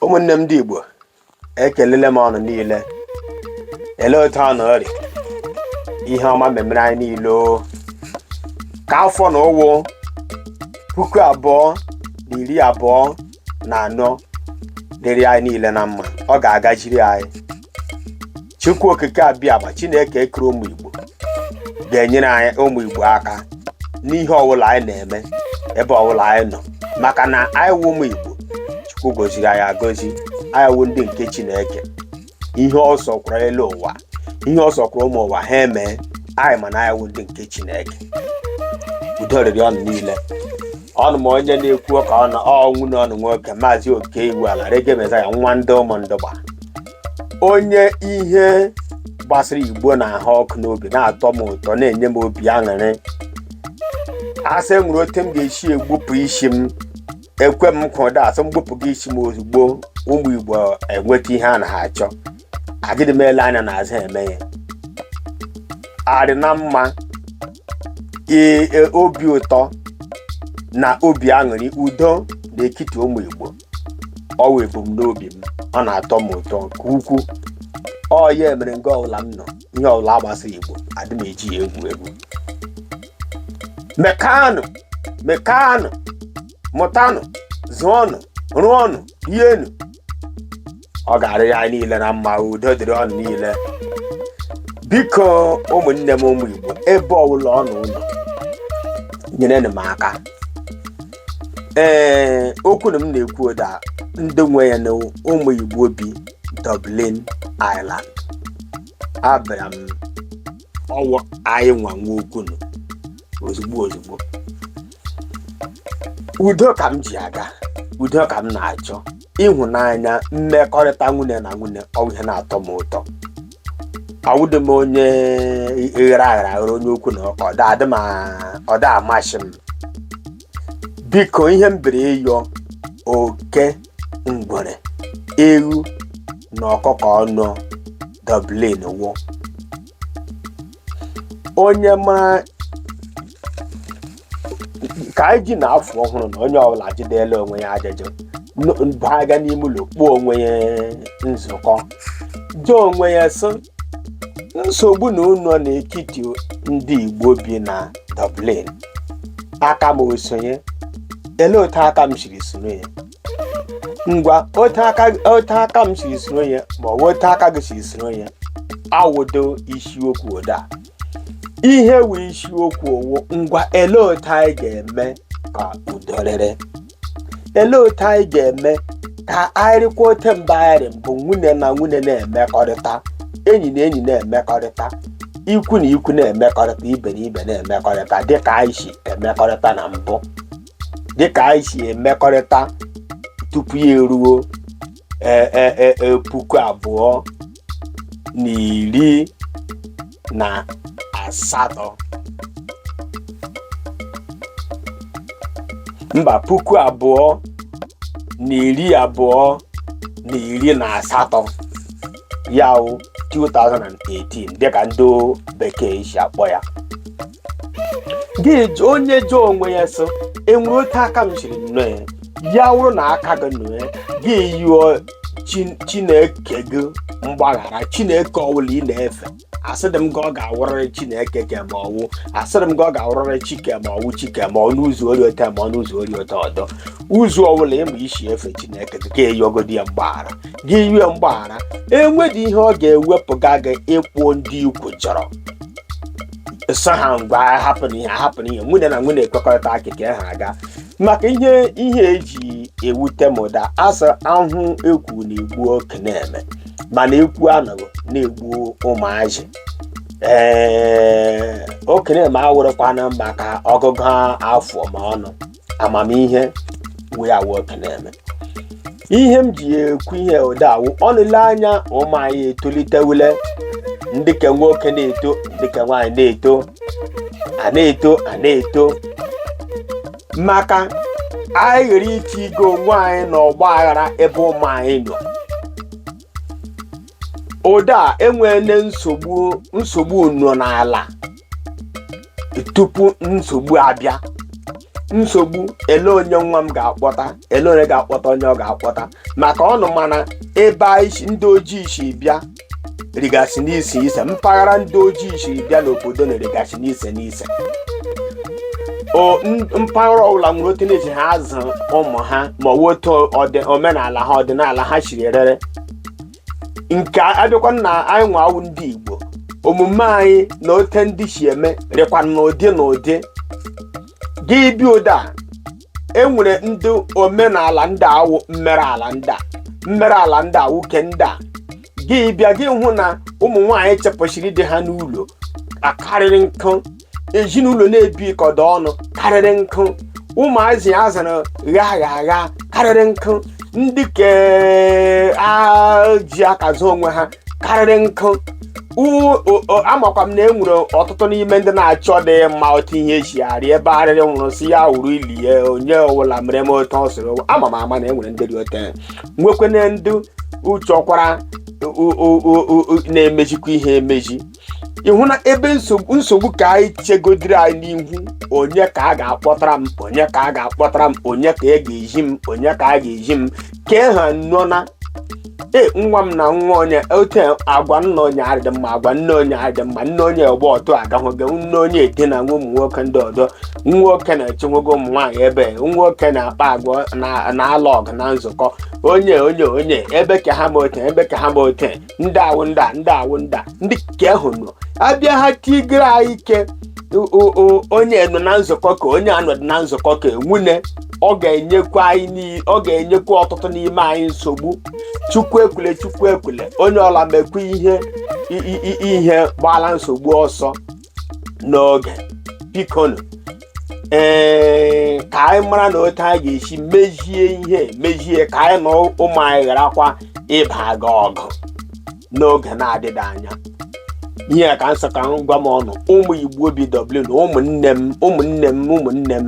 ụmụnne m ndị igbo ekelele m ụnụ niile ele otu ụnụ rị ihe ọma memere anyị niile o. ka afọ nụ wụ puku abụọ na iri abụọ na anọ dịrị anyị niile na mma ọ ga-agajiri anyị chukwu okike abịama chineke ekere ụmụ igbo ga-enyere anyị ụmụ igbo aka n'ihe ọbụla anyị na-eme ebe ọbụla anyị nọ maka na anyị wụ ụmụ igbo chukwu goziri anyị agozi anyị wụ ndị nke chineke ihe ọ sọkwara elu ụwa ihe ọ sọkwara ụmụ ụwa ha emee anyị ma na anyị wụ ndị nke chineke udo rịrị ụnụ niile ọnụ m onye na-ekwu ka ọ wụ nwụnne ụnụ nwoke maazị okey iwuala reggae messiah nwa ndị ụmụndụgba onye ihe gbasara igbo na-ahụ ọkụ n'obi na-atọ m ụtọ na-enye m obi aṅụrị a sị nwere otu m ga-esi egbupụ isi m ekwe m ka ụda a sị m gbupụ gị isi m ozugbo ụmụ igbo enweta ihe a na ha achọ agịdị m ele anya n'azụ eme ya adị na mma ee e, obi ụtọ na obi aṅụrị udo n'etiti ụmụ igbo ọ wụ ebumnobi m ọ na-atọ m ụtọ nke ukwuu ọ ya mere nga ọbụla m nọ ihe ọbụla gbasara igbo adị m eji ya egwu egwu mekanụ mekanụ mụtanụ zụọnụ rụọnụ rienụ ọ ga-arịrị anyị niile na mma udo dịrị ụnụ niile biko ụmụnne m ụmụ igbo ebe ọbụla ụnụ nọ nyerenụ m aka ee okwu nụ m na-ekwu ụda ndị nwe ya na ụmụ igbo bi dublin ireland abịara m ọ wụ anyị nwa nwe okwu nụ ozugbo ozugbo udo ka m ji aga udo ka m na-achọ ịhụnanya mmekọrịta nwụnne na nwụnne ọ bụ ihe na-atọ m ụtọ awụdị m onye ghere aghara aghara onye okwu na ụka ọ da adị m a- ọ da amasị m biko ihe m bịara ịyọ oke ngwere ewu na ọkụkọ nọ dublin wụ onye mara ka anyị ji na afọ ọhụrụ na onye ọbụla jidela onwe ya ajụjụ n- baga n'ime ụlọ kpọọ onwe ya nzukọ jụọ onwe ya sị nsogbu nụ nọ n'etiti ndị igbo bi na dublin aka m o so ya ele otu aka m siri soro ya ngwa otu aka otu aka m siri soro ya ma ọ bụ otu aka gị siri soro ya awụdị isiokwu ụda ihe wụ isiokwu ọ wụ ngwa ele otu anyị ga-eme ka udo rịrị ele otu anyị ga-eme ka anyị rịkwa ote mba anyị rị mbụ nwanne na nwanne na-emekọrịta enyi na enyi na-emekọrịta ikwu na ikwu na-emekọrịta ibe na ibe na-emekọrịta dịka anyị si emekọrịta na mbụ dịka anyị si emekọrịta tupu ya eruo e- e- e- e- puku abụọ na iri na asatọ mba puku abụọ na iri abụọ na iri na asatọ ya wụ 2018 dịka ndị bekee si akpọ ya gị jụ- onye jụọ onwe ya sị enwere otu aka m siri nọọ ya ya wụrụ na aka gị nọ ya gị yụọ Chi- chineke gị mgbaghara chineke ọwụla ị na-efe asịdị m gị ọ ga-awụrịrị chineke ke m ma ọwụ asịdị m gị ọ ga-awụrịrị chi ke m ma ọwụ chi ke m ma ọ n'ụzọ ọ rị ote ma ọ n'ụzọ ọ rị ote ọdọ ụzọ ọwụla ị ma isi efe chineke gị ka eyọgodi ya mgbaghara gị yụọ ya mgbaghara enwedị ihe ọ ga-ewepụga gị ịkpọ ndị ikwu chọrọ sị ha ngwa hapụnụ ihe hapụnụ ihe nwanne na nwanne ekwekọrịta akịka ha aga maka ihe ihe eji ewute m ụda a sị ahụ ekwu na-egbu okenye mana ekwuo anụghị na-egbu ụmụazị ee okenye awụrụkwanụ maka ọgụgụ afọ ma ọnụ amamihe wee awụ okenye ihe m ji ekwu ihe ụda a wụ ọnụ lee anya ụmụ anyị etolitewule ndị ke nwoke na-eto ndị ke nwaanyị na-eto a na-eto a na-eto maka anyị ghara itinye onwe anyị na ọgba aghara ebe ụmụ anyị nọ ụda enweele nsogbu nsogbu nọ n'ala tupu nsogbu abịa nsogbu ele onye nwa m ga-akpọta ele onye ga-akpọta onye ọ ga-akpọta maka ọnụ ma na ebe anyị si- ndị ojii si bịa rịgasị n'iche iche mpaghara ndị ojii si bịa n'obodo a rịgasị n'iche n'iche o n- mpaghara ọbụla nwere otu na-eji ha azụ ụmụ ha ma ọ bụ otu ọdị- omenala ha ọdịnala ha siri rịrị nke abịakwa na anyị nwa wụ ndị igbo omume anyị na ote ndị si eme rịkwa n'ụdị n'ụdị gị bịa ụda a, e nwere ndị omenala ndị a wụ mmerụ ala ndị a mmerụ ala ndị a nwoke ndị a gị bịa gị hụ na ụmụ nwaanyị chụpụsịrị di ha n'ụlọ akarịrị nkụ ezinụlọ na-ebikọdo ọnụ karịrị nkụ ụmụazị a zụrụ ghaghagha karịrị nkụ ndị ke ji aka azụ onwe ha karịrị nkụ U- o- o- amakwa m na e nwere ọtụtụ n'ime ndị na-achọ ịdị mma otu ihe eji arị ebe arịrị nwụrụ si ya wuru ili ya onye ọbụla mere m otu ọ sịrị ama m ama na e nwere ndị dị otu ahụ. nwekwene ndị uchọkwara na-emezikwa ihe emezi ịhụ na ebe nsogbu ka anyị chegodiri anyị n'ihu onye ka a ga-akpọtara m onye ka a ga-akpọtara m onye ka e ga-eji m onye ka a ga-eji m kee ha nọ na nwa m na nwa onye ote agwa nna onye adị mma agwa nne onye adị mma nne onye ọgba ọtụ agahụgo nne onye edina nwa ụmụ nwoke ndị ọzọ nwoke na-echenwogo ụmụ nwaanyị ebe nwoke na-akpa agwa na- na-alụ ọgụ na nzukọ onye onye onye ebe ka ha ma ote ebe ka ha ma ote ndị awụ ndị a ndị awụ ndị a ndị ke ahụ nọ abịa ha tigere anyị ike onye nọ na nzukọ ka onye anọdị na nzukọ ka nwunye ọ ga-enyekwa ọtụtụ n'ime anyị nsogbu chukwu ekwule chukwu ekwule onye ọla mekwa ihe ihe gbala nsogbu ọsọ n'oge bikonu ee ka anyị mara na otu anyị ga-esi mezie ihe mezie ka anyị na ụmụ anyị gharakwa ịbaga ọgụ n'oge na-adịghị anya ihe a ka m sị ka m gwa ụnụ ụmụ igbo bi Dublin ụmụnne m ụmụnne m ụmụnne m